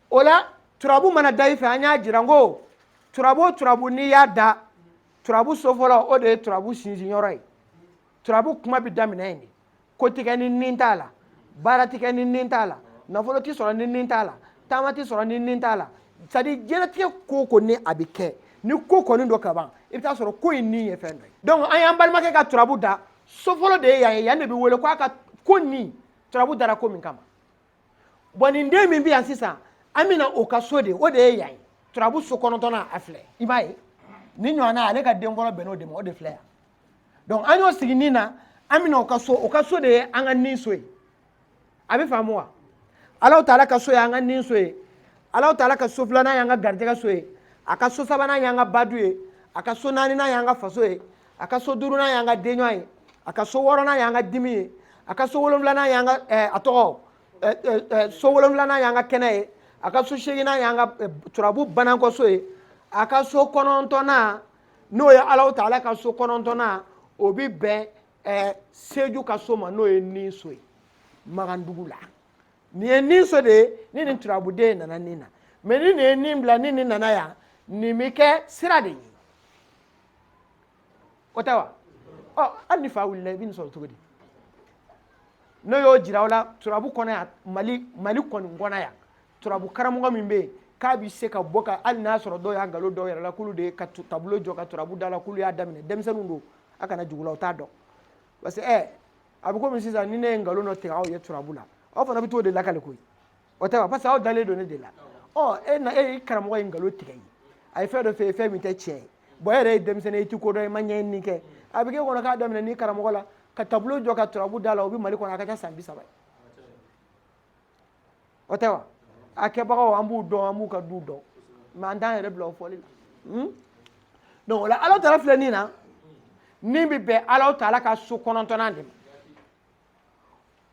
o la turabu mana da i fɛ an y'a jira n ko turabu o turabu n'i y'a da turabu so fɔlɔ o de ye turabu sinsin yɔrɔ ye turabu kuma bɛ daminɛ yen de ko ti kɛ ni nin t'a la baara ti kɛ ni nin t'a la nafolo ti sɔrɔ ni nin t'a la taama ti sɔrɔ ni nin t'a la c'est à dire diɲɛlatigɛ ko o ko ni a bɛ kɛ ni ko kɔni don ka ban i bɛ t'a sɔrɔ ko in nin ye fɛn dɔ ye donc an y'an balimakɛ ka turabu da so fɔlɔ de ye yan ye yan de bɛ wele ko a ka ko nin turabu dara ko min kama bɔn nin den min bɛ yan sisan an bɛna o ka so de o de ye yan ye turabu so kɔnɔntɔnnan a filɛ i b'a ye ni ɲɔgɔnna ale ka den fɔlɔ bɛnn'o de ma o de filɛ yan donc an y'o sigi nin na an bɛna o ka so o ka so de ye an ka nin so ye aw b'a faamu wa alaw taala ka so ye an ka nin so ye alaw taala ka so filanan y'an ka garijɛgɛ so ye a ka so sabanan y'an ka badu ye a ka so naaninan y'an ka faso ye a ka so duurunan y'an ka denɲɔgɔn ye a ka so wɔɔrɔnan y'an ka dimi ye a ka so wolonwulanan y'an ka eh, a tɔgɔ eh, eh, so wolonwulanan y'an ka kɛnɛ ye a ka so seeginan y'an ka turabu banankɔso ye a ka so kɔnɔntɔnnan n'o ye alaw taala ka so kɔnɔntɔnnan o bɛ bɛn seju ka so ma n'o ye ni so ye magandugu la nin ye ni so de ye ni nin turabuden nana nin na mɛ ni nin ye nin bila ni nin nana yan nin bɛ kɛ sira de ye o tɛ wa ɔ hali n'i fa wulila i bɛ nin sɔrɔ cogo di ne y'o jira aw la turabu kɔnɔ yan mali mali kɔni kɔnɔ yan turabu karamɔgɔ min bɛ yen k'a bɛ se ka bɔ ka hali n'a sɔrɔ dɔw y'a nkalon da u yɛrɛ la k'olu de ye ka tableau jɔ ka turabu da la k'olu y'a daminɛ denmisɛnninw don a kana jigi u la u t'a dɔn parce que ɛ a bɛ komi sisan ni ne ye nkalon dɔ tigɛ aw ye turabu la aw fana bɛ t'o de lakali koyi o tɛ wa parce que aw dalen don ne de la ɔ e na e ye karamɔgɔ ye nkalon tigɛ i ye a ye fɛn dɔ f'i ye fɛn min tɛ tiɲɛ ye bɔn e yɛrɛ ye denmisɛnnin i ti ko dɔn i ma ɲɛɲini kɛ a bɛ k'e kɔnɔ k'a daminɛn'i karamɔgɔ la ka tableau jɔ ka turabu da la o bɛ mali kɔnɔ a ka ca san bi saba ye o tɛ wa a kɛbagaw an b'u dɔn an b'u ka duw dɔn mɛ an t'an yɛrɛ bila o fɔli la donc o la ala taala filɛ nin na min bɛ bɛn ala taala ka so kɔnɔntɔnnan de ma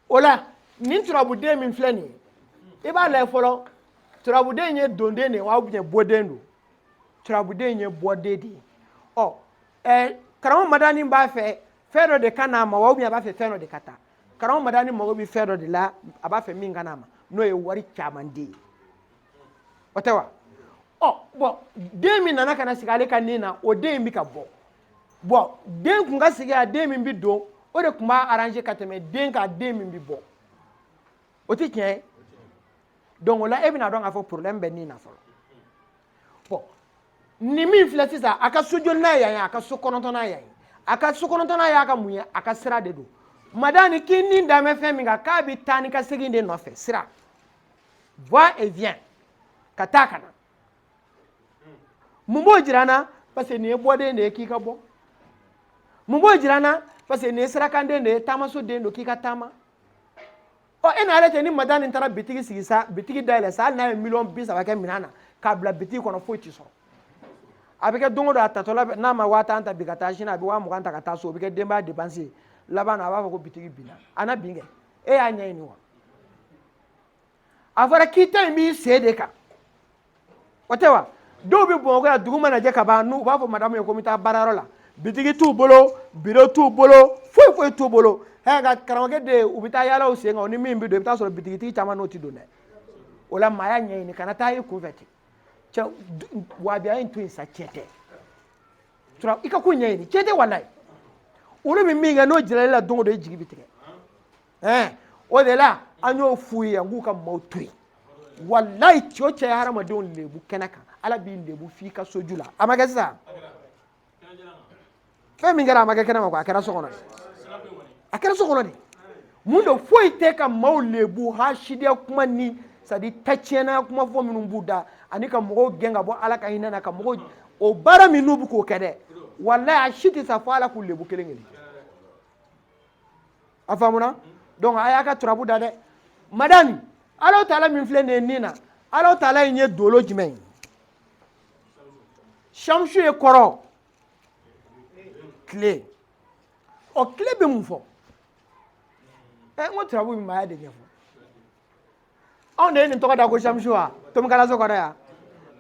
o la nin turabuden min filɛ nin ye i b'a lajɛ fɔlɔ turabuden ye donden de ye wa ou bien bɔden don turabuden ye bɔden de ye ɔ ɛɛ karamɔgɔ madani b'a fɛ fɛn dɔ de ka n'a ma wa ou bien a b'a fɛ fɛn dɔ de ka taa karamɔgɔ madani mago bɛ fɛn dɔ de la a b'a fɛ min ka n'a ma n'o ye wari caman de ye o tɛ wa ɔ bɔn den min nana ka na sigi ale ka nin na o den in bɛ ka bɔ bɔn den kun ka sigi a den min bi don o de kun b'a arranger ka tɛmɛ den kan den min bi bɔ o ti tiɲɛ ye donc o la e bɛn'a dɔn k'a fɔ problème bɛ nin na fɔlɔ bɔn nin min filɛ sisan a ka so jolinan yan ye a ka so kɔnɔntɔnnan yan ye a ka so kɔnɔntɔnnan y'a ka mun ye a ka sira de don madani k'i ni dan bɛ fɛn min kan k'a bɛ taa ni ka segin de nɔfɛ sira va et vient ka taa ka na mun b'o jira na parce que nin ye bɔden de ye k'i ka bɔ mun b'o jira na parce que nin ye sirakanden de ye taamaso den don k'i ka taama ɔ e n'ale cɛ ni madani taara bitigi sigi sa bitigi dayɛlɛ sa hali n'a ye miliyɔn bi saba kɛ minɛn na k'a bila bitigi kɔnɔ foyi ti sɔrɔ a bɛ kɛ don o don a taatɔla n'a ma waa tan ta bi ka taa sini a bɛ waa mugan ta ka taa so o bɛ kɛ denbaya depansi ye laban na a b'a fɔ ko bitigi binna a na bin kɛ e y'a ɲɛɲini wa a fɔra k'i ta in b'i sen de kan o tɛ wa dɔw bɛ bamakɔ yan dugu mana jɛ ka ban n'u b'a fɔ madamu ye ko n bɛ taa baarayɔrɔ la bitigi t'u bolo biro t'u bolo foyi foyi t'u bolo ɛ nka karamɔgɔkɛ de u bɛ taa yaala u sen kan ni min bɛ don i bɛ t'a sɔrɔ bitigitigi caman n'o tɛ don dɛ o la maaya ɲɛɲini kana taa i kunfɛ ten cɛ wahabiya in to yen sa cɛ tɛ tura i ka ko ɲɛɲini cɛ tɛ walayi olu bɛ min kɛ n'o jɛra i la don o don i jigi bɛ tigɛ ɛɛ o de la an y'o f'u ye yan k'u ka maaw to yen walayi cɛ o cɛ ye hadamadenw lebu kɛnɛ kan ala b'i lebu f'i ka soju la a ma kɛ sisan fɛn min kɛra a ma kɛ kɛnɛ ma ko a kɛra so kɔnɔ a kɛra so kɔnɔ de mun don foyi tɛ ka maaw lebu hasidiya kuma ni sadi ta tiɲɛna kuma fɔ minnu b'u da ani ka mɔgɔw gɛn ka bɔ ala ka hinɛ na ka mɔgɔw o baara minnu bɛ k'o kɛ dɛ walayi a si tɛ sa fo ala k'u lebu kelen kelen a faamuna donc a y'a ka turabu da dɛ madani ala taala min filɛ nin ye nin na ala taala in ye dolo jumɛn ye shamsu ye kɔrɔ tile ɔ tile bɛ mun fɔ ɛ n ko turabu bɛ maaya de ɲɛfɔ anw de ye nin tɔgɔ da ko shamsu wa tomi kalanso kɔnɔ yan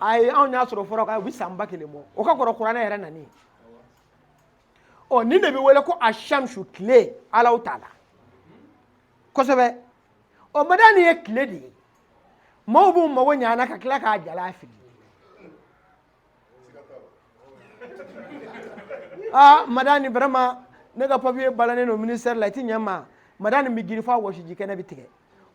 ayi anw y'a sɔrɔ fɔlɔ k'a u bɛ san ba kelen bɔ o ka kɔrɔ kuranɛ yɛrɛ nani ɔ nin de bɛ wele ko a shamsu tile ala taala kosɛbɛ ɔ madani ye tile de ye maaw b'u mago ɲana ka tila k'a jala fili aa ah, madani vraiment ne ka papiye balannen don ministère la i ti ɲɛ ma madani bɛ girin f'a wɔsiji kɛnɛ bɛ tigɛ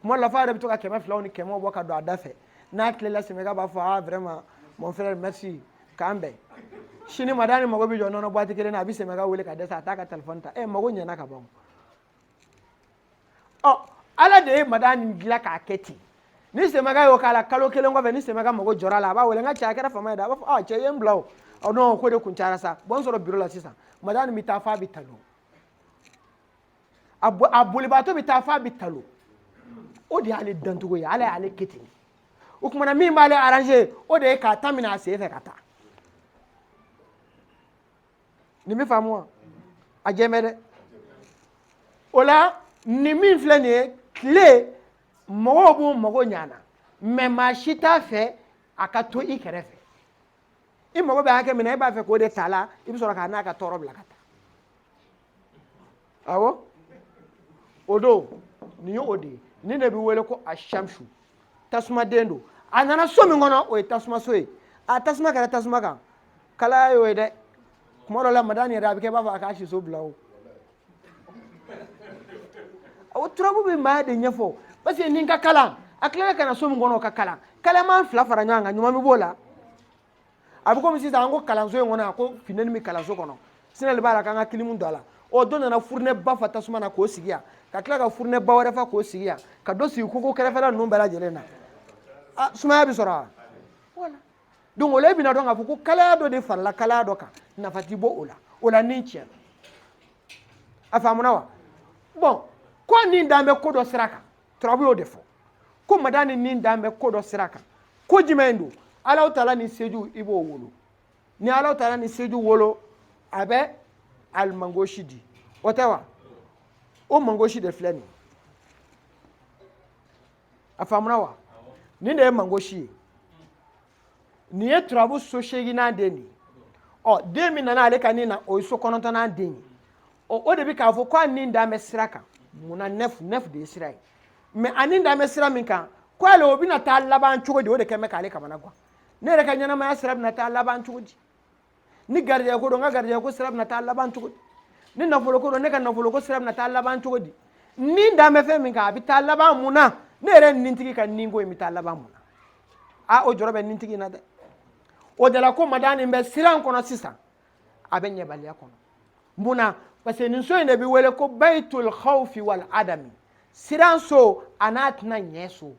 kuma dɔ la fo a yɛrɛ bɛ to ka kɛmɛ filaw ni kɛmɛw bɔ ka don a da fɛ n'a tilela sɛmɛka b'a fɔ ah vraiment mon frère merci k'an bɛn sini madani mago bɛ jɔ nɔnɔ buwati kelen na a bɛ sɛmɛka wele ka dɛsɛ a t'a ka telefɔni ta ɛ mago ɲɛna ka ban ɔ ala de ye madani dilan k'a kɛ ten ni sɛmɛka y'o k'a la kalo kelen kɔfɛ ni sɛmɛka mago jɔra a la a b'a wele n ka cɛ a kɛra fama ye dɛ a b'a fɔ ɔ cɛ i ye n bila o ɔ n'o ko de kun cayara sa bɔn n sɔrɔ biro la sisan madani bɛ taa f'a bɛ talon a bolibaatɔ bɛ taa f'a bɛ talon o de y'ale dancogo ye ala y'ale kɛ ten o kuma na min b'ale arrange o de ye k'a ta minɛ a sen fɛ ka taa nin bɛ faamu wa a jɛmɛ dɛ o la nin min filɛ nin ye tile mɔgɔw b'u mago ɲ'a na mɛ maa si t'a fɛ a ka to i kɛrɛfɛ i mago bɛ hakɛ min na e b'a fɛ k'o de t'a la i bɛ sɔrɔ k'a n'a ka tɔɔrɔ bila ka taa awɔ o don nin ye o de ye nin de bɛ wele ko a shamsu tasumaden don a nana so min kɔnɔ o ye tasumaso ye a tasuma kɛra tasuma kan kalaya y'o ye dɛ kuma dɔ la madani yɛrɛ a bɛ kɛ i b'a fɔ a k'a siso bila o o turabu bɛ maa de ɲɛfɔ parce que nin ka kalan a tilala ka na so min kɔnɔ o ka kalan kalaman fila fara ɲɔgɔn kan ɲuman bɛ b'o la a bɛ komi sisan an ko kalanso in kɔnɔ yan ko funteni min bɛ kalanso kɔnɔ sinali b'a la k'an ka kilimu don a la ɔ dɔ nana furunɛba fa tasuma na k'o sigi yan ka tila ka furunɛba wɛrɛ fa k'o sigi yan ka dɔ sigi koko kɛrɛfɛla ninnu bɛɛ lajɛlen na a sumaya bɛ sɔrɔ wa voilà donc o la e bɛna dɔn k'a fɔ ko kalaya dɔ de farala kalaya dɔ kan nafa ti bɔ o la o la ni tiɲɛ a faamuna wa bɔn ko nin dan bɛ ko dɔ sira kan turabu y'o de fɔ ko madani nin dan bɛ ko dɔ sira kan ko jumɛn don alahutaala ni seju i b'o wolo ni alahutaala ni seju wolo a bɛ alimangosi di o tɛ wa o mangosi de filɛ nin a faamuna wa nin de ye mangosi ye nin ye turabu so seeginnan den de ye ɔ den min nana ale ka nin na o ye so kɔnɔntɔnnan den ye ɔ o de bɛ k'a fɔ ko a nin dan bɛ sira kan mun na neuf neuf de ye sira ye mɛ a nin dan bɛ sira min kan ko ale o bɛna taa laban cogo di o de kɛn bɛ k'ale kamana gan ne yɛrɛ ka ɲɛnamaya sira bɛna taa laban cogo di ni garijɛgɛ ko don n ka garijɛgɛ ko sira bɛna taa laban cogo di ni nafolo ko don ne ka nafolo ko sira bɛna taa laban cogo di nin dan bɛ fɛn min kan a bɛ taa laban mun na ne yɛrɛ nintigi ka ninko in bɛ taa laban mun na a o jɔrɔ bɛ nintigi in na dɛ o de la ko madani nin bɛ siran kɔnɔ sisan a bɛ ɲɛbaliya kɔnɔ mun na parce que nin so in de bɛ wele ko bayitul khawfi wal adami siran so a n'a tɛna ɲɛ so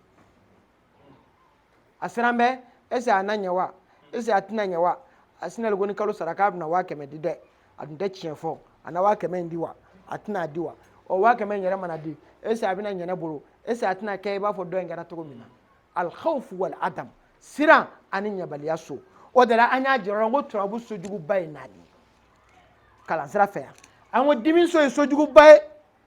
a siran bɛ ese a na ɲɛ wa ese a tɛna ɲɛ wa a sinali ko ni kalo sara k'a bɛna waa kɛmɛ di dɛ a tun tɛ tiɲɛ fɔ a na waa kɛmɛ in di wa a tɛna a di wa o waa kɛmɛ in yɛrɛ mana di ese a bɛna ɲɛ ne bolo ese a tɛna kɛ i b'a fɔ dɔ in kɛra cogo min na alhawfu wal adam siran ani ɲɛbaliya so o de la an y'a jira ko turabu so juguba ye naani ye kalansira fɛ yan an ko dimi so ye so juguba ye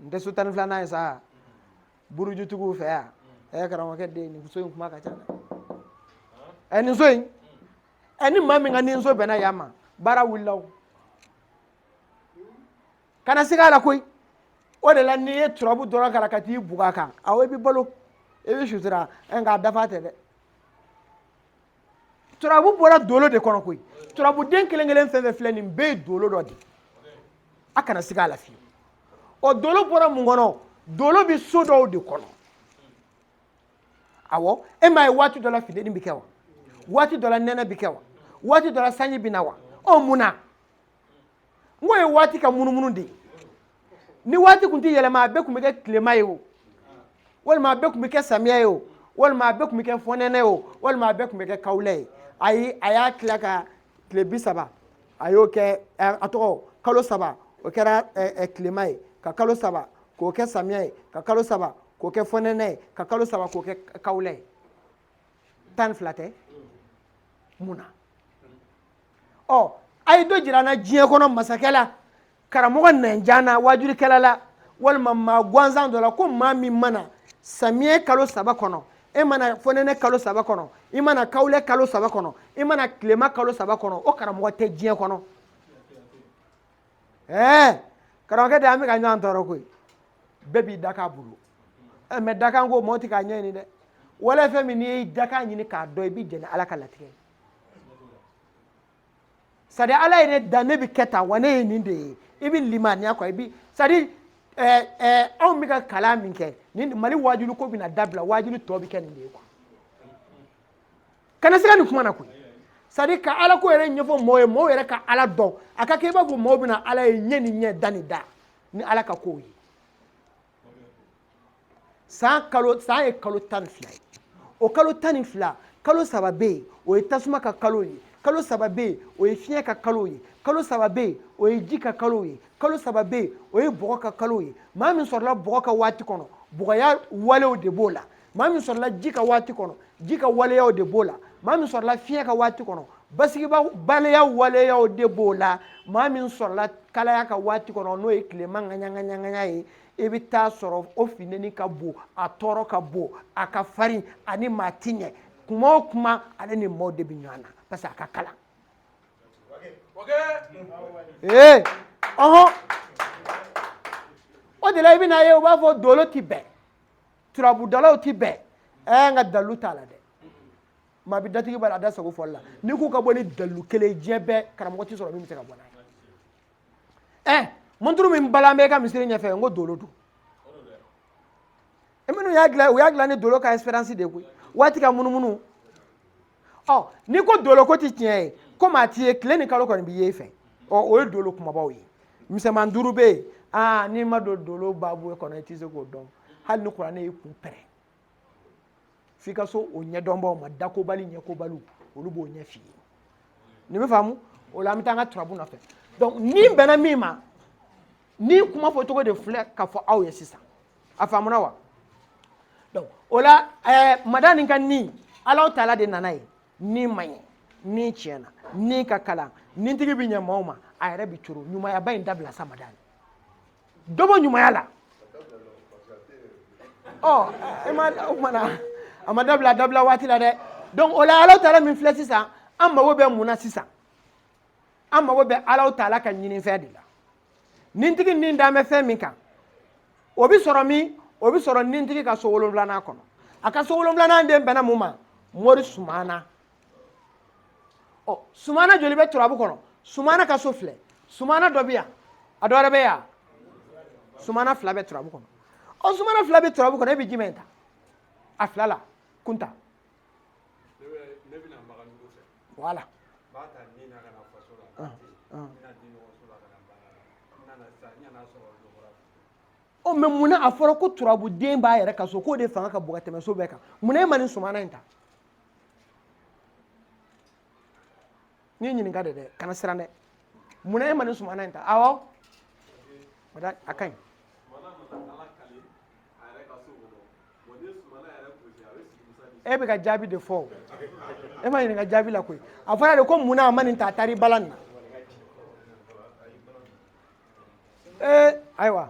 nin tɛ so tan ni filanan ye sa burujutigiw fɛ yan ɛ karamɔgɔkɛ de nin so in kuma ka ca dɛ ɛ nin so in ɛ ni maa min ka nin so bɛnna yan ma baara wulila o kana siga a la koyi o de la n'i ye turabu dɔrɔn kalan ka t'i bugɔ a kan awɔ i bɛ balo i bɛ sutura ɛ nka a dafa tɛ dɛ turabu bɔra dolo de kɔnɔ koyi turabuden kelen kelen fɛn fɛn filɛ nin bɛɛ ye dolo dɔ de a kana siga a la fewu ɔ dolo bɔra mun kɔnɔ dolo bɛ so dɔw de kɔnɔ awɔ e m'a ye waati dɔ la funteni bɛ kɛ wa waati dɔ la nɛnɛ bɛ kɛ wa waati dɔ la sanji bɛ na wa ɔ mun na n k'o ye waati ka munumunu de ye ni waati tun tɛ yɛlɛma a bɛɛ tun bɛ kɛ tilema ye o walima a bɛɛ tun bɛ kɛ samiya ye o walima a bɛɛ tun bɛ kɛ fɔnɛnɛ ye o walima a bɛɛ tun bɛ kɛ kawulɛ ye ayi a y'a tila ka tile bi saba a y'o kɛ a tɔgɔ kalo saba o kɛra tilema ye ka kalo saba k'o kɛ samiya ye ka kalo saba k'o kɛ fɔnɛnɛ ye ka kalo saba k'o kɛ kawulɛ ye tan ni fila tɛ mun na ɔ a ye dɔ jira an na diɲɛ kɔnɔ masakɛ la karamɔgɔ nɛnjan na waajulikɛla la walima maa gansan dɔ la ko maa min ma na samiyɛ kalo saba kɔnɔ e ma na fonɛnɛ kalo saba kɔnɔ i ma na kawulɛ kalo saba kɔnɔ i ma na tilema kalo saba kɔnɔ o karamɔgɔ tɛ diɲɛ kɔnɔ ɛɛ karamɔgɔkɛ de an bɛ ka ɲɔgɔn tɔɔrɔ koyi bɛɛ b'i dakan bolo ɛ mɛ dakan ko mɔɔ ti k'a ɲɛɲini dɛ wala fɛn min n'i y'i dakan ɲini k'a dɔn i bɛ jɛn ni ala ka latigɛ ye sadi ala ye ne da ne bɛ kɛ tan wa ne ye nin de ye i bɛ limaniya kɔ i bɛ sadi ɛɛ ɛɛ anw bɛ ka kalan min kɛ ni mali waajuli ko bɛna dabila waajuli tɔ bɛ kɛ nin de ye kuwa kana siga nin kuma na koyi sadi ka ala ko yɛrɛ ɲɛfɔ mɔgɔw ye mɔgɔw yɛrɛ ka ala dɔn a ka kɛ i b'a fɔ mɔgɔw bɛna ala ye ɲɛ ni ɲɛ da ni da ni ala ka kow ye san kalo san ye kalo tan ni fila ye o kalo tan ni fila kalo saba bɛ yen o ye tasuma ka kalo ye kalo saba bɛ yen o ye fiɲɛ ka kalo ye kalo saba bɛ yen o ye ji ka kalo ye kalo saba bɛ yen o ye bɔgɔ ka kalo ye maa min sɔrɔla bɔgɔ ka waati kɔnɔ bɔgɔya walew de b'o la maa min sɔrɔla ji ka waati kɔnɔ ji ka waleyaw de b'o la maa min sɔrɔla fiɲɛ ka waati kɔnɔ basigibaliya waleyaw de b'o la maa min sɔrɔla kalaya ka waati kɔnɔ n'o ye tilema ŋaɲaŋaɲaŋaɲa ye i bɛ taa sɔrɔ o funteni ka bon a tɔɔrɔ ka bon a ka farin a ni maa ti ɲɛ kuma o kuma ale ni maaw de bɛ ɲɔgɔn na parce que a ka kalan ee ɔhɔn o de la i bɛna ye u b'a fɔ dolo ti bɛn turabudalaw ti bɛn ɛɛ eh, nka dalu t'a la dɛ maa bi datigi b'a la a da sago fɔli la n'i k'u ka bɔ ni dalu kelen diɲɛ bɛɛ karamɔgɔ ti sɔrɔ min bɛ se ka bɔ n'a ye ɛɛ eh, mɔnturu min balan bɛ i ka misiri ɲɛfɛ n ko dolo don e minnu y'a dilan u y'a dilan ni dolo ka esperansi de ye koyi waati ka munumunu ɔ n'i ko dolo ko ti tiɲɛ ye komi a ti ye tile ni kalo kɔni bi ye i fɛ ɔ o ye dolo kunbabaw ye misɛnman duuru bɛ yen aa n'i ma don dolo baabu kɔnɔ i tɛ se k'o dɔn hali ni kuranɛ y'i kun pɛrɛn f'i ka se o ɲɛdɔnbaw ma dakobali ɲɛkobaliw olu b'o ɲɛf'i ye nin bɛ faamu o la an bɛ taa an ka turabu nɔfɛ donc ni bɛnna min ma ni kuma fɔcogo de filɛ ka fɔ aw ye sisan a faamuna wa donc o la eh, madani ka ni alaw taala de nana yen ni man ɲi ni tiɲɛna ni ka kalan ni tigi bɛ ɲɛ maaw ma a yɛrɛ bɛ coron ɲumayaba in dabila sa madani dɔ bɔ ɲumaya la ɔ e ma o kumana a ma dabila a dabila waati la dɛ donc o la alaw taala min filɛ sisan an mago bɛ mun na sisan an mago bɛ alaw taala ka ɲininfɛn de la nintigi ni dan bɛ fɛn min kan o bɛ sɔrɔ min o bɛ sɔrɔ nintigi ka so wolonwulanan kɔnɔ a ka so wolonwulanan den bɛnna mun ma mori sumana ɔ sumana joli bɛ turabu kɔnɔ sumana ka so filɛ sumana dɔ bɛ yan a dɔ wɛrɛ bɛ yan sumana fila bɛ turabu kɔnɔ ɔ sumana fila bɛ turabu kɔnɔ e bɛ jumɛn ta a fila la kunta Wala ɔ mais munna a fɔra ko turabu den b'a yɛrɛ ka so k'o de fanga ka bon ka tɛmɛ so bɛɛ kan munna e ma nin sumana in ta ne y'i ɲininka de dɛ kana siran dɛ mun na e ma nin sumana in ta awɔ a ka ɲi e bɛ ka jaabi de fɔ o e ma ɲininka jaabi la koyi a fɔra de ko mun na a ma nin ta a taara i balan na ee ayiwa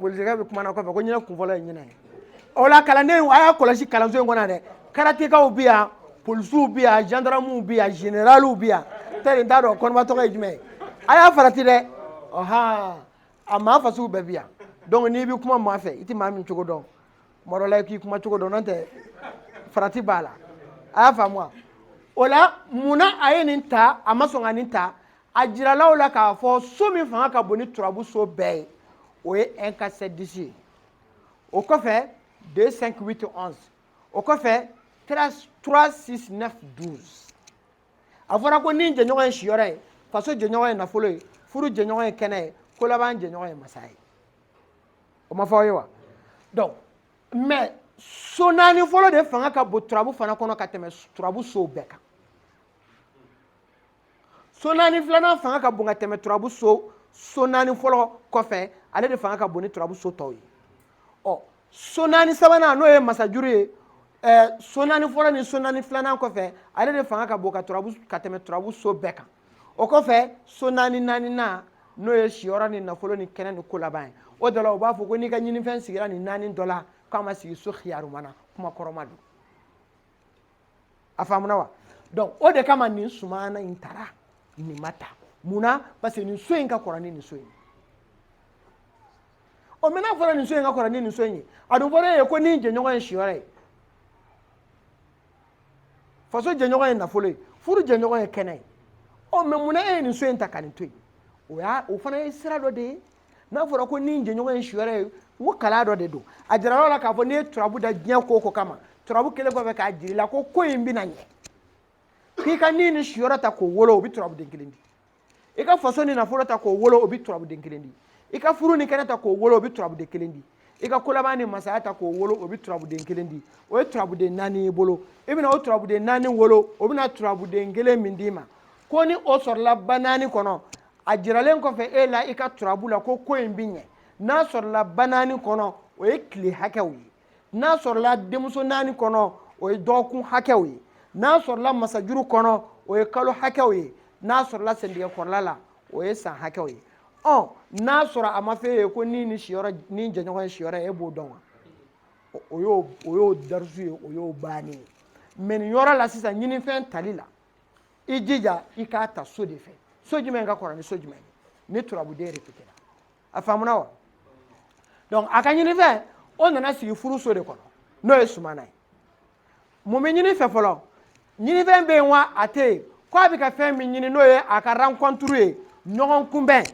politigɛ bɛ kumana kɔfɛ ko ɲinɛ kunfɔlɔ ye ɲinɛ ye o la kalandenw a y'a kɔlɔsi kalanso in kɔnɔ dɛ karatekaw bɛ yan polisiw bɛ yan zandaramuw bɛ yan generaliw bɛ yan tɛ nin t'a dɔn kɔnɔba tɔgɔ ye jumɛn ye a y'a farati dɛ ɔhan a maa fasugu bɛɛ bɛ yan donc n'i bɛ kuma maa fɛ i tɛ maa min cogo dɔn tuma dɔ la i k'i kuma cogo dɔn n'o tɛ farati b'a la a y'a faamu wa o la mun na a ye nin ta a ma sɔn ka nin ta a jirala aw la k'a fɔ so min fanga ka bon ni turabu so bɛɛ ye o ye 1 4 7 10 ye o kɔfɛ 2 5 8 11 o kɔfɛ 3 6 9 12 a fɔra ko ni jɛɲɔgɔn ye siyɔrɔ ye faso jɛɲɔgɔn ye nafolo ye furu jɛɲɔgɔn ye kɛnɛ ye kolaban jɛɲɔgɔn ye masaya ye o ma fɔ aw ye wa donc mais so naani fɔlɔ de fanga ka bon turabu fana kɔnɔ ka tɛmɛ turabu sow bɛɛ kan so naani filanan fanga ka bon ka tɛmɛ turabu so so naani fɔlɔ kɔfɛ ale de fanga ka bon ni turabu so tɔw ye ɔ so naani sabanan n'o ye masajuru ye ɛɛ so naani fɔlɔ ni so naani filanan kɔfɛ ale de fanga ka bon ka turabu ka tɛmɛ turabu so bɛɛ kan o kɔfɛ so naani naaninan n'o ye siyɔrɔ ni nafolo ni kɛnɛ ni kolaban ye o de la u b'a fɔ ko n'i ka ɲinifɛn sigira nin naani dɔ la k'a ma sigi so xiyaruma na kuma kɔrɔma don a faamuna wa donc o de kama nin sumana in tara nin ma ta mun na parce que nin so in ka kɔrɔ ni nin so in ɔ mais n'a fɔra nin so in ka kɔrɔ ni nin so in ye a dun fɔra e ye ko ni jɛɲɔgɔn ye siyɔrɔ ye faso jɛɲɔgɔn ye nafolo ye furu jɛɲɔgɔn ye kɛnɛ ye ɔ mais mun na e ye nin so in ta ka nin to yen o y'a o fana ye sira dɔ de ye n'a fɔra ko ni jɛɲɔgɔn ye siyɔrɔ ye ko kalan dɔ de don a jirala aw la k'a fɔ n'i ye turabu da diɲɛ ko o ko kama turabu kɛlen kɔfɛ k'a jira i la ko ko in bɛna ɲɛ k'i ka ni ni siyɔrɔ ta k'o wolo o bɛ turabuden kelen di i ka faso ni nafolo ta k'o wolo o bɛ turabuden kelen di i ka furu ni kɛnɛ ta k'o wolo o bɛ turabuden kelen di i ka kolaban ni masaya ta k'o wolo o bɛ turabuden kelen di o ye turabuden naani y'i bolo i bɛna o turabuden naani wolo o bɛna turabuden kelen min d'i ma ko ni o sɔrɔla ba naani kɔnɔ a jiralen kɔfɛ e la i ka turabu la ko ko in bi ɲɛ n'a sɔrɔla ba naani kɔnɔ o ye tile hakɛw ye n'a sɔrɔla denmuso naani kɔnɔ o ye dɔgɔkun hakɛw ye n'a sɔrɔla masajuru kɔnɔ o ye kalo hakɛw ye n'a sɔrɔla sendigɛ kɔrɔla la o ye san hakɛw ye ɔ n'a sɔrɔ a ma f'e ye ko ni ni siyɔrɔ ni jɛɲɔgɔn ye siyɔrɔ ye e b'o dɔn wa o y'o o y'o darisu ye o y'o bannen ye mais nin yɔrɔ la sisan ɲinifɛn tali la i jija i k'a ta so de fɛ so jumɛn ka kɔrɔ ni so jumɛn ye ni turabuden repetera a faamuna wa donc a ka ɲinifɛn o nana sigi furu so de kɔnɔ n'o ye sumana ye mun bɛ ɲini fɛ fɔlɔ ɲinifɛn bɛ yen wa a tɛ yen ko a bɛ ka fɛn min ɲini n'o ye a ka rencontre ye ɲɔgɔn kunbɛn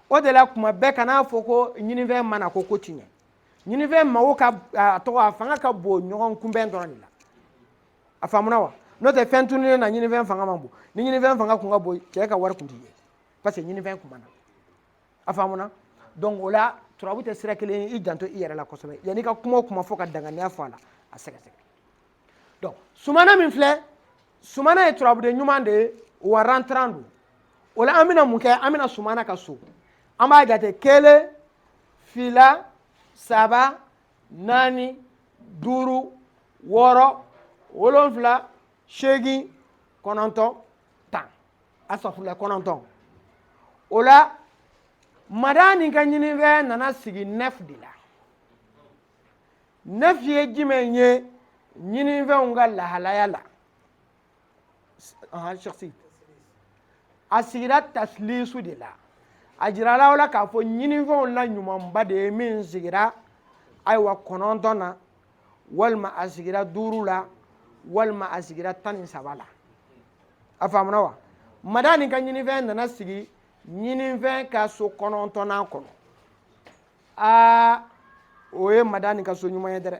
o de la kuma bɛɛ kana fɔ ko ɲinifɛn ma na ko ko tiɲɛ ɲinifɛn mago ka a tɔgɔ a fanga ka bon ɲɔgɔn kunbɛn dɔrɔn de la a faamuna wa n'o tɛ fɛn tununinen na ɲinifɛn fanga man bon ni ɲinifɛn fanga kun ka bon cɛ ka wari kun tɛ ye parce que ɲinifɛn kun ma na a faamuna donc o la turabu tɛ sira kelen ye i janto i yɛrɛ la kosɛbɛ yanni ka kuma o kuma fɔ ka danganiya fɔ a la a sɛgɛsɛgɛ donc sumana min filɛ sumana ye turabuden ɲuman de ye wa rentrant don o la an bɛna mun kɛ an bɛna sumana ka so an b'a jate kelen fila saba naani duuru wɔɔrɔ wolonfila seegin kɔnɔntɔn tan asafurula kɔnɔntɔn o la madani ka ɲininfɛn nana sigi neuf de la neuf ye jumɛn ye ɲininfɛnw ka lahalaya la a shasi a sigira tasilisu de la a jirala o la k'a fɔ ɲininfɛnw la ɲumanba de ye min sigira ayiwa kɔnɔntɔn na walima a sigira duuru la walima a sigira tan ni saba la a faamuna wa madani ka ɲininfɛn nana sigi ɲininfɛn ka so kɔnɔntɔnnan kɔnɔ aa o ye madani ka so ɲuman ye dɛrɛ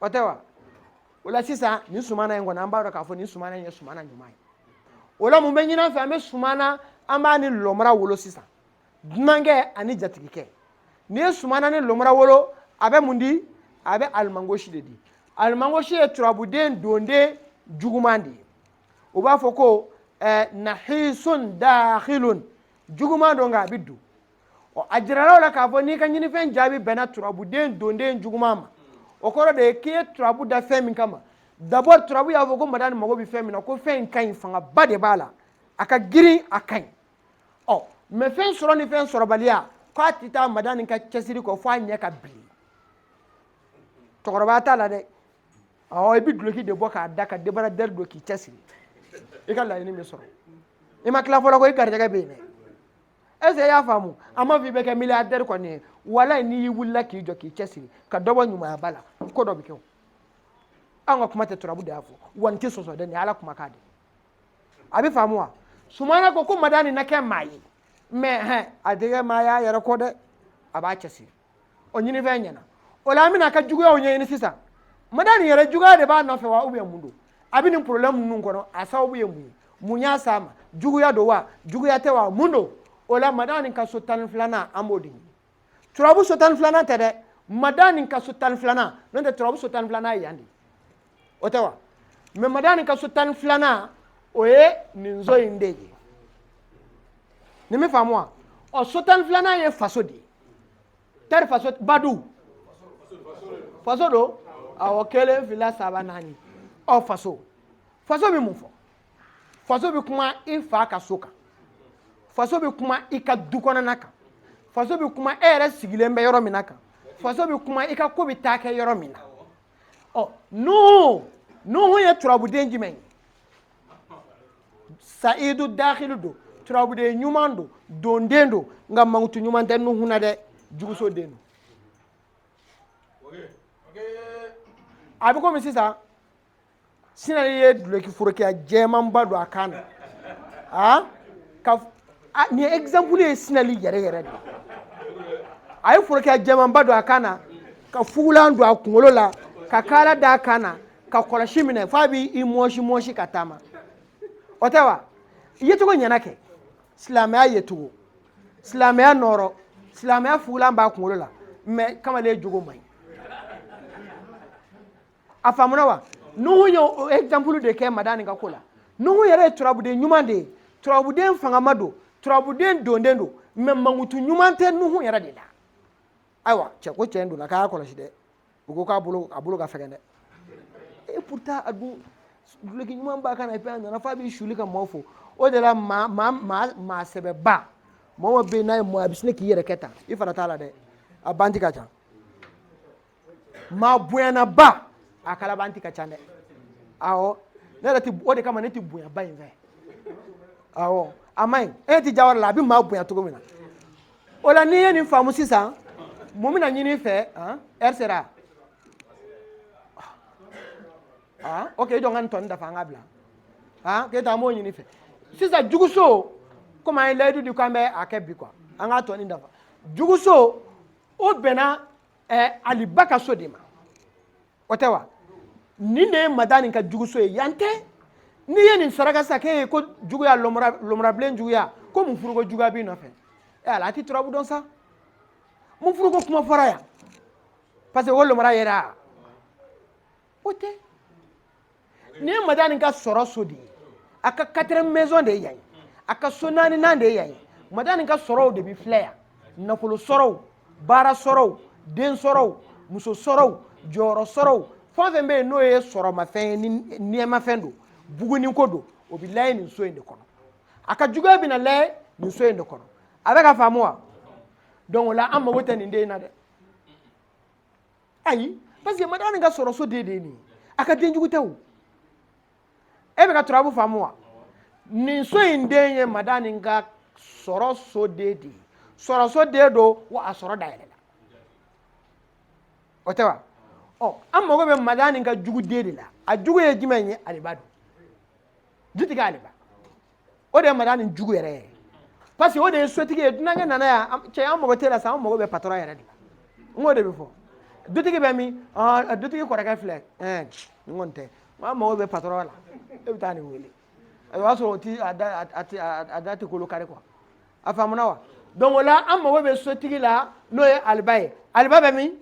o tɛ wa o la sisan nin sumana in kɔni an b'a dɔn k'a fɔ nin sumana in ye sumana ɲuman ye o la mun bɛ ɲini an fɛ an bɛ sumana an b'a ni lɔmara wolo sisan dunankɛ ani jatigikɛ n'i ye sumana ni lɔmara wolo a bɛ mun di a bɛ alimangosi de di alimangosi ye turabuden donden juguman de ye u b'a fɔ ko eh, nahisun dahilun juguman don nka a bɛ don ɔ a jirala o la k'a fɔ n'i ka ɲinifɛn jaabi bɛnna turabuden donden juguman ma o kɔrɔ de ye k'i ye turabu da fɛn min kama dabɔ turabu y'a fɔ ko madani mago bɛ fɛn min na ko fɛn in ka ɲi fangaba de b'a la a ka girin a ka ɲi ɔ mais fɛn sɔrɔ ni fɛn sɔrɔbaliya k'a tɛ taa madani ka cɛsiri kɔ f'a ɲɛ ka bili cɛkɔrɔba t'a la dɛ awɔ i bɛ duloki de bɔ k'a da ka débardeur don k'i cɛsiri i ka laɲini bɛ sɔrɔ i ma tila fɔlɔ ko i garijɛgɛ bɛ yen dɛ est-ce i y'a faamu a ma fɔ i bɛ kɛ milliardaire kɔni ye wala n'i y'i wulila k'i jɔ k'i cɛsiri ka dɔ bɔ ɲumanyaba la ko dɔ bɛ kɛ o an ka kuma tɛ turabu de y'a fɔ wa n tɛ sɔsɔ dɛ nin ala kuma k'a de a bɛ faamu wa sumana ko ko madani na kɛ maa ye mais hɛn a tɛ kɛ maa y'a yɛrɛ kɔ dɛ a b'a cɛsiri o ɲinifɛn ɲɛna o la an bɛn'a ka juguyaw ɲɛɲini sisan madani yɛrɛ juguya de b'a nɔfɛ wa ubiyɛn mun don a bɛ nin porobilɛmu ninnu kɔnɔ a sababu ye mun ye mun y'a s'a ma juguya don wa juguya tɛ wa mun don o la madani ka so tan ni filanan an b'o de ɲini turabu so tan ni filanan tɛ dɛ madani ka so tan ni filanan n'o tɛ turabu so tan ni filanan ye yan de ye o tɛ wa mɛ madani ka so tan ni filanan o ye nin so in de ye nin bɛ faamu wa ɔ so tan ni filanan ye faso de ye tari faso badu faso don awɔ kelen fila saba naani ɔ faso faso bɛ mun fɔ faso bɛ kuma i fa ka so kan faso bɛ kuma i ka du kɔnɔna kan faso bɛ kuma e yɛrɛ sigilen bɛ yɔrɔ min na kan faso bɛ kuma i ka ko bɛ taa kɛ yɔrɔ min na ɔ nuhu nuhu ye turabuden jumɛn ye sayidu dakilu don turabuden ɲuman don donden don nka mankutu ɲuman tɛ nuhu na dɛ juguso den don a bɛ komi sisan sinali ye duloki forokiya jɛmanba don a kan na a ka nin exemple ye sinali yɛrɛ yɛrɛ de a ye forokiya jɛmanba don a kan na ka fugulan don a kunkolo la ka kaala da a kan na ka kɔlɔsi minɛ f'a b'i mɔsi mɔsi ka taama o tɛ wa yecogo ɲɛna kɛ silamɛya yecogo silamɛya nɔɔrɔ silamɛya fugulan b'a kunkolo la mɛ kamalen jogo man ɲi a faamuna wa nuhu ye o exemple de kɛ madani ka ko la nuhu yɛrɛ ye turabuden ɲuman de ye turabuden fangama don turabuden donden don mɛ mankutu ɲuman tɛ nuhu yɛrɛ de la ayiwa cɛ ko cɛ in donna k'a y'a kɔlɔsi dɛ u ko k'a bolo a bolo ka fɛgɛn dɛ e pourtant a dun duloki ɲuman b'a kan na epi a nana f'a b'i suli ka maaw fo o de la maa maa maa maa sɛbɛba mɔgɔ bɛ yen n'a ye mɔɔ a bɛ sin k'i yɛrɛ kɛ tan i fana t'a la dɛ kalabanti ka ca maa bonyanaba a kalabanti ka ca dɛ awɔ ne yɛrɛ ti o de kama ne ti bonyaba in fɛ awɔ a ma ɲi e ti jawara la a bɛ maa bonya cogo min na o la n'i ye nin faamu sisan mun bɛna ɲini i fɛ ɛri sera ok i jɔ n ka nin tɔni dafa an ka bila k'e ta an b'o ɲini fɛ sisan juguso komi an ye layidu di k'an bɛ a kɛ bi kuwa an k'a tɔni dafa juguso o bɛnna ɛɛ ali ba ka so de ma o tɛ wa nin de ye madani ka juguso ye yan tɛ n'i ye nin saraka sa k'e ye ko juguya lomurabilen juguya ko mun furuko juguya b'i nɔfɛ ɛ ala a ti turabu dɔn sa mun furuko kuma fɔra yan parce que o lomura yera o tɛ nin ye madani ka sɔrɔ so de ye a ka quatrième maison de ye yan ye a ka so naaninan de ye yan ye madani ka sɔrɔw de bɛ filɛ yan nafolo sɔrɔ o baara sɔrɔ o den sɔrɔ o muso sɔrɔ o jɔyɔrɔ sɔrɔ o fɛn o fɛn bɛ yen n'o ye sɔrɔmafɛn ye ni nɛɛmafɛn don bugunni ko don o bɛ lajɛ nin so in de kɔnɔ a ka juguya bɛna lajɛ nin so in de kɔnɔ a bɛ ka faamu wa donc o la an mago tɛ nin den in na dɛ ayi parce que madani ka sɔrɔ so den de ye nin ye a ka den jugu tɛ o e bɛ ka turabu faamu wa nin so in den ye madani ka sɔrɔ so den de ye sɔrɔ so den don wa a sɔrɔ dayɛlɛ la o tɛ wa ɔ an mago bɛ madani ka jugu den de la a jugu ye jumɛn ye aliba don dutigi aliba o de ye madani jugu yɛrɛ ye parce que o de ye sotigi ye dunankɛ nana yan cɛ an mago t'a la sa an mago bɛ patɔrɔ yɛrɛ de la n k'o de bɛ fɔ dutigi bɛ min dutigi kɔrɔkɛ filɛ ɛɛ nin kɔni tɛ an mago bɛ patɔrɔ la e bɛ taa nin wele o y'a sɔrɔ o ti a da a da tɛ kolo kari kuwa a faamuna wa donc o la an mago bɛ sotigi la n'o ye aliba ye aliba bɛ min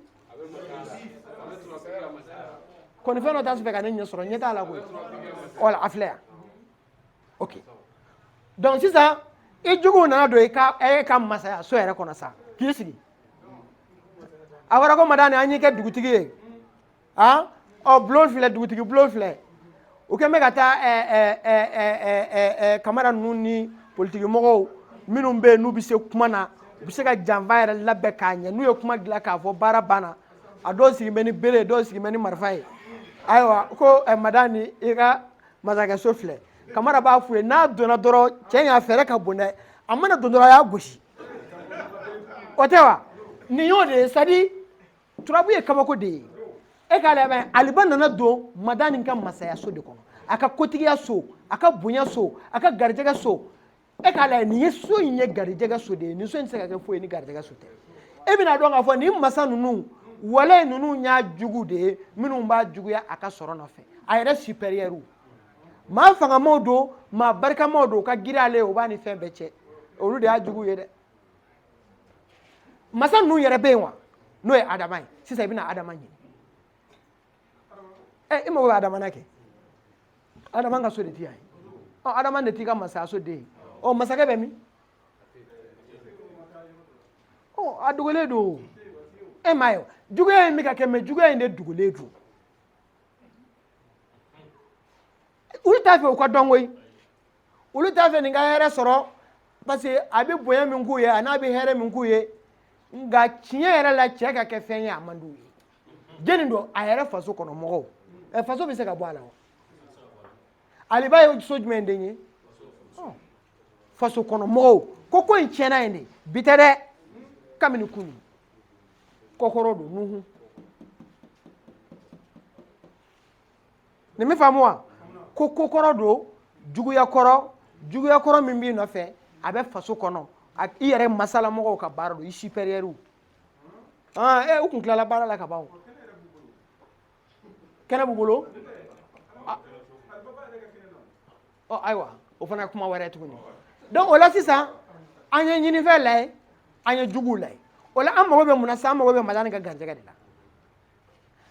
kɔnifɛn dɔ t'a fɛ ka ne ɲɛ sɔrɔ ɲɛ t'a la koyi voilà a filɛ yan ok donc sisan i jugu nana don i ka e ka masaya so yɛrɛ kɔnɔ sa k'i sigi a fɔra ko madani an y'i kɛ dugutigi ye a ɔ bulon filɛ dugutigi bulon filɛ u kɛn bɛ ka taa kamara ninnu ni politiki mɔgɔw minnu bɛ yen n'u bɛ se kuma na u bɛ se ka janfa yɛrɛ labɛn k'a ɲɛ n'u ye kuma dilan k'a fɔ baara banna a dɔw sigilen bɛ ni bere ye dɔw sigilen bɛ ni marifa ye ayiwa ko madani i ka masakɛso filɛ kamara b'a f'u ye n'a donna dɔrɔn cɛ in a fɛɛrɛ ka bon dɛ a mana don dɔrɔn a y'a gosi o tɛ wa nin y'o de ye sadi turabu ye kabako de ye e k'a lamɛn aliba nana don madani ka masayaso de kɔnɔ a ka kotigiya so a ka bonya so a ka garijɛgɛ so e k'a lajɛ nin ye so in ye garijɛgɛ so de ye nin so in tɛ se ka kɛ foyi ye ni garijɛgɛ so tɛ e bɛna dɔn k'a fɔ nin masa ninnu voilà ninnu y'a jugu de ye minnu b'a juguya a ka sɔrɔ nɔfɛ a yɛrɛ supérieur maa fangamaw don maa barikamaw don ka girin ale ye o b'a ni fɛn bɛɛ cɛ olu de y'a jugu ye dɛ masa ninnu yɛrɛ bɛ yen wa n'o ye adama ye sisan i bɛna adama ɲini ɛ i mago bɛ adama na kɛ adama ka so de t'a ye ɔ adama de t'i ka masayaso den ye ɔ masakɛ bɛ min ɔ a dogolen don e m'a ye juguya in bɛ ka kɛ mais juguya in de dogolen don olu t'a fɛ u ka dɔn koyi olu t'a fɛ nin ka hɛrɛ sɔrɔ parce que a bɛ bonya min k'u ye an'a bɛ hɛrɛ min k'u ye nka tiɲɛ yɛrɛ la cɛ ka kɛ fɛn ye a man d'u ye jeni don a yɛrɛ faso kɔnɔ mɔgɔw ɛ faso bɛ se ka bɔ a la wa aliba ye so jumɛn den ye faso kɔnɔ mɔgɔw ko ko in tiɲɛna yen de bi tɛ dɛ kabini kunu kokɔrɔ don nuhu nin bɛ faamu wa ko kokɔrɔ don juguya kɔrɔ juguya kɔrɔ min b'i nɔfɛ a bɛ faso kɔnɔ a i yɛrɛ masalamɔgɔw ka baara don i supɛriyɛriw e u tun tilala baara la ka ban kɛnɛ b'u bolo ayiwa o fana kuma wɛrɛ tuguni donc o la sisan an ye ɲinifɛn lajɛ an ye juguw lajɛ o la an mago bɛ mun na sisan an mago bɛ madamu nin ka garijɛgɛ de la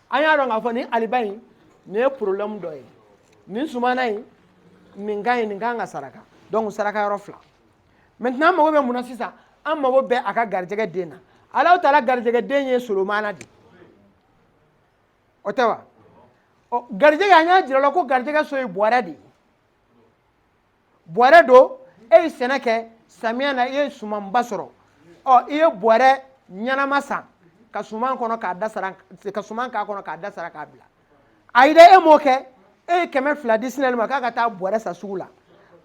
an y'a dɔn k'a fɔ nin aliba in nin ye problème dɔ ye nin sumana in nin ka ɲi nin kan ka saraka donc saraka yɔrɔ fila maintenant an mago bɛ mun na sisan an mago bɛ a ka garijɛgɛ den na ala taala garijɛgɛ den ye solomana de o tɛ wa garijɛgɛ an y'a jira aw la ko garijɛgɛ so ye bɔrɛ de ye bɔrɛ don e ye sɛnɛ kɛ samiya na i ye sumanba sɔrɔ ɔ i ye bɔrɛ ɲɛnama san ka suman kɔnɔ k'a da sara ka suman k'a kɔnɔ k'a da sara k'a bila ayi dɛ e m'o kɛ e ye kɛmɛ fila di sinɛli ma k'a ka taa bɔrɛ san sugu la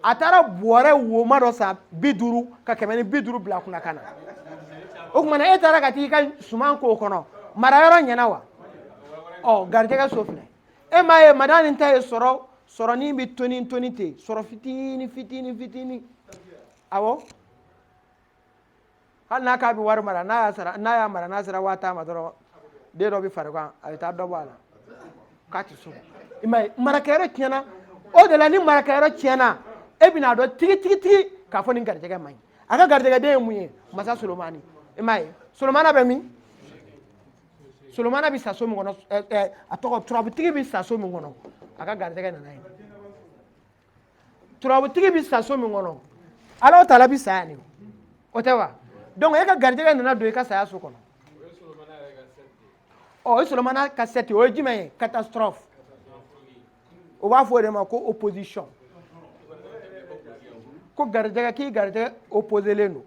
a taara bɔrɛ woma dɔ san bi duuru ka kɛmɛ ni bi duuru bila kunna ka na o tuma na e taara ka t'i ka suman k'o kɔnɔ mara yɔrɔ ɲɛna wa ɔ garijɛgɛ so filɛ e m'a ye madamu nin ta ye sɔrɔ sɔrɔnin bɛ toni toni ten sɔrɔ fitini fitini fitini awɔ hali n'a k'a bɛ wari mara n'a y'a sara n'a y'a mara n'a sera waa tan ma dɔrɔn den dɔ bɛ farigan a bɛ taa dɔ bɔ a la k'a tɛ sɔn i m'a ye marakɛyɔrɔ tiɲɛna o de la ni marakɛyɔrɔ tiɲɛna e bɛna dɔn tigi tigi tigi k'a fɔ nin garijɛgɛ man ɲi a ka garijɛgɛden ye mun ye masa solomani i m'a ye solomana bɛ min solomana bɛ sa so min kɔnɔ ɛɛ eh, eh, a tɔgɔ turabutigi bɛ sa so min kɔnɔ a ka garijɛgɛ nana ye turabutigi bɛ sa so min kɔnɔ ala taala bɛ sa yan de o tɛ wa donc e ka garijɛgɛ nana don i ka saya so kɔnɔ ɔ o ye solomana ka sɛti o ye jumɛn ye catastrophe u b'a fɔ o de ma ko opposition ko garijɛgɛ k'i garijɛgɛ opposelen don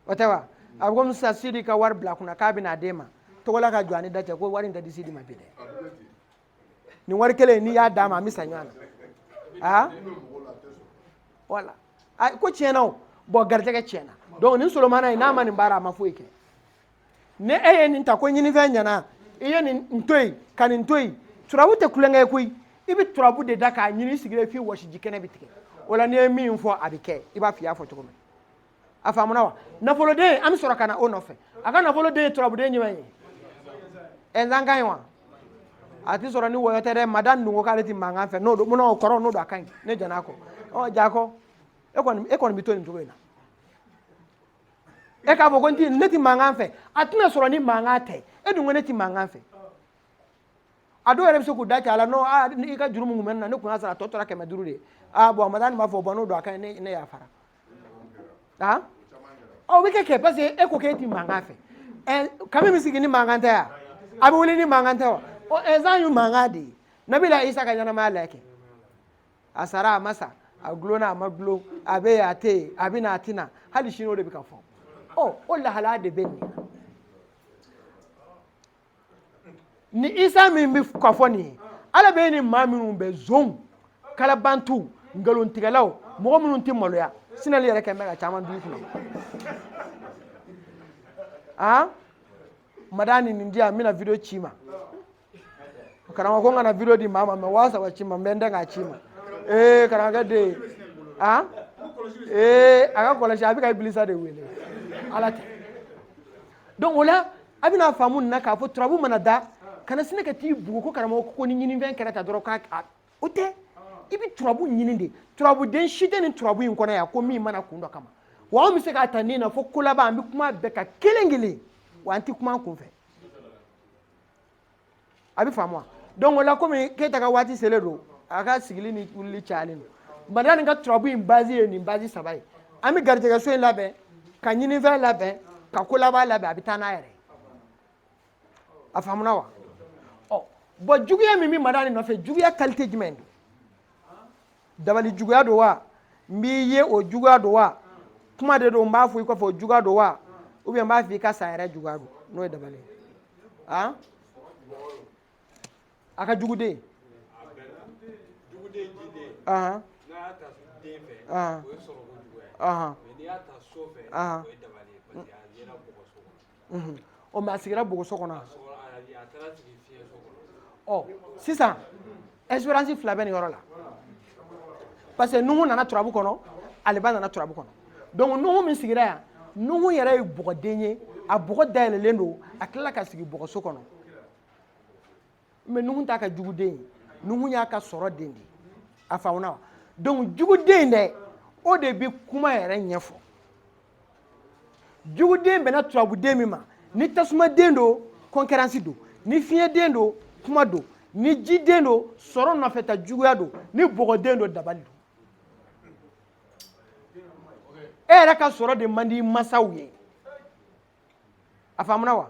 o tɛ wa a bɛ komi sisan sidi ka wari bila kunna k'a bɛna a d'e ma togola ka jɔ a ni da cɛ ko wari in tɛ di sidi ma bi dɛ nin wari kelen n'i y'a d'a ma an bɛ sa ɲɔgɔn na aa walayi ko tiɲɛna o bon garijɛgɛ tiɲɛna donc nin solomana in n'a ma nin baara a ma foyi kɛ ni e ye nin ta ko ɲinifɛn ɲɛna i ye nin to yen ka nin to yen turabu tɛ tulonkɛ ye koyi i bɛ turabu de da k'a ɲini sigilen f'i wɔsiji kɛnɛ bɛ tigɛ o la n'i ye min fɔ a bɛ kɛ i b'a fɔ i y'a fɔ cogo min a faamuna wa nafoloden an bɛ sɔrɔ ka na o nɔfɛ a ka nafoloden ye turabuden jumɛn ye ɛnzankan ye wa a tɛ sɔrɔ ni wɔyɔ tɛ dɛ madani ko k'ale tɛ mankan fɛ n'o don munna o kɔrɔ n'o don a ka ɲi ne jɛn'a kɔ ɔ jako e kɔni e kɔni bɛ to nin cogo in na e k'a fɔ ko ne tɛ mankan fɛ a tɛna sɔrɔ ni mankan tɛ e dun ko ne tɛ mankan fɛ a dɔw yɛrɛ bɛ se k'u da cɛ a la ko aa i ka juru min tun bɛ ne na ne tun y'a sara a tɔ tora kɛmɛ duuru de ye aa bɔn a madani b'a fɔ bɔn n'o don a ka ɲi ne yafara aa o bɛ kɛ kɛ parce que e ko k'e tɛ mankan fɛ hadamaden bɛ sigi ni mankan tɛ yan a bɛ wuli ni mankan tɛ wa ɔ ɛnsan ye mankan de ye nabila isa ka ɲɛnamaya la kɛ a sara a ma sa a dulonna a ma dulon a bɛ yen a tɛ yen a bɛ na a tɛ na hali sini o de bɛ ka fɔ ɔ o lahalaya de bɛ nin na ni isa min bɛ ka fɔ nin ye ala bɛ ni maa minnu bɛ zonw kalabantu nkalontigɛlaw mɔgɔ minnu tɛ maloya sinali yɛrɛ kɛmɛ ka caman dugu kɔnɔ aa madani nin di yan n bɛna video ci i ma karamɔgɔ ko n kana video di maa ma mɛ waa saba ci n ma n bɛ n dɛn k'a ci i ma ee karamɔgɔkɛ den ye a ee a k'a kɔlɔsi a bɛ ka ibilisa de wele ala tɛ donc o la a bɛna faamu nin na k'a fɔ turabu mana da kana sin ka t'i bugu ko karamɔgɔ ko ni ɲininfɛn kɛra ta dɔrɔn k'a a- o tɛ i bɛ turabu ɲini de turabuden si tɛ nin turabu in kɔnɔ yan ko min ma na kun dɔ kama wa an bɛ se k'a ta nin na fo ko laban an bɛ kuma bɛɛ kan kelen kelen wa an tɛ kuma an kun fɛ a bɛ faamu wa donc o la komi keyita ka waati selen don a ka sigili ni wulili cayalen don madani ka turabu in bazi ye nin bazi saba ye an bɛ garijɛgɛso in labɛn ka ɲininfɛn labɛn ka kolaban labɛn a bɛ taa n'a yɛrɛ ye a faamuna wa ɔ bɔn juguya min bɛ madani nɔfɛ juguya kalite jumɛn don dabali juguya don wa n b'i ye o juguya don wa kuma de don n b'a fɔ i kɔfɛ o juguya don wa ou bien n b'a fɔ i ka sa yɛrɛ juguya don n'o ye dabali ye han a ka jugu dɛ ahan ahan ahan unhun ɔ mɛ a sigira bɔgɔso kɔnɔ a ɔ sisan ɛsiperansi fila bɛ nin yɔrɔ la parce que nuhu nana turabu kɔnɔ aliba nana turabu kɔnɔ donc nuhu min sigira yan nuhu yɛrɛ ye bɔgɔden ye a bɔgɔ dayɛlɛlen don a tilala ka sigi bɔgɔso kɔnɔ mɛ nuhun t'a ka juguden ye nuhun y'a ka sɔrɔden de a faamuna wa donc juguden dɛ o de bɛ kuma yɛrɛ ɲɛfɔ juguden bɛnna turabuden min ma ni tasumaden don kɔnkɛransi don ni fiɲɛden don kuma don ni jiden don sɔrɔ nɔfɛta juguya don ni bɔgɔden don dabali don e yɛrɛ ka sɔrɔ de man di masaw ye a faamuna wa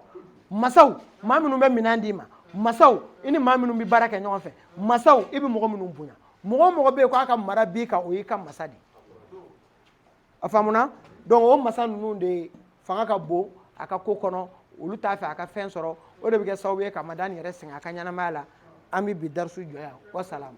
masaw maa minnu bɛ minɛn d'i ma masaw i ni maa minnu bɛ baara kɛ ɲɔgɔn fɛ masaw i bɛ mɔgɔ minnu bonya mɔgɔ o mɔgɔ bɛ yen k'a ka mara b'i kan o y'i ka masa de ye a faamuna donc o masa ninnu de fanga ka bon a ka ko kɔnɔ olu t'a fɛ a ka fɛn sɔrɔ o de bɛ kɛ sababu ye ka madani yɛrɛ sɛgɛn a ka ɲɛnamaya la an bɛ bi darisu jɔ yan wasalamu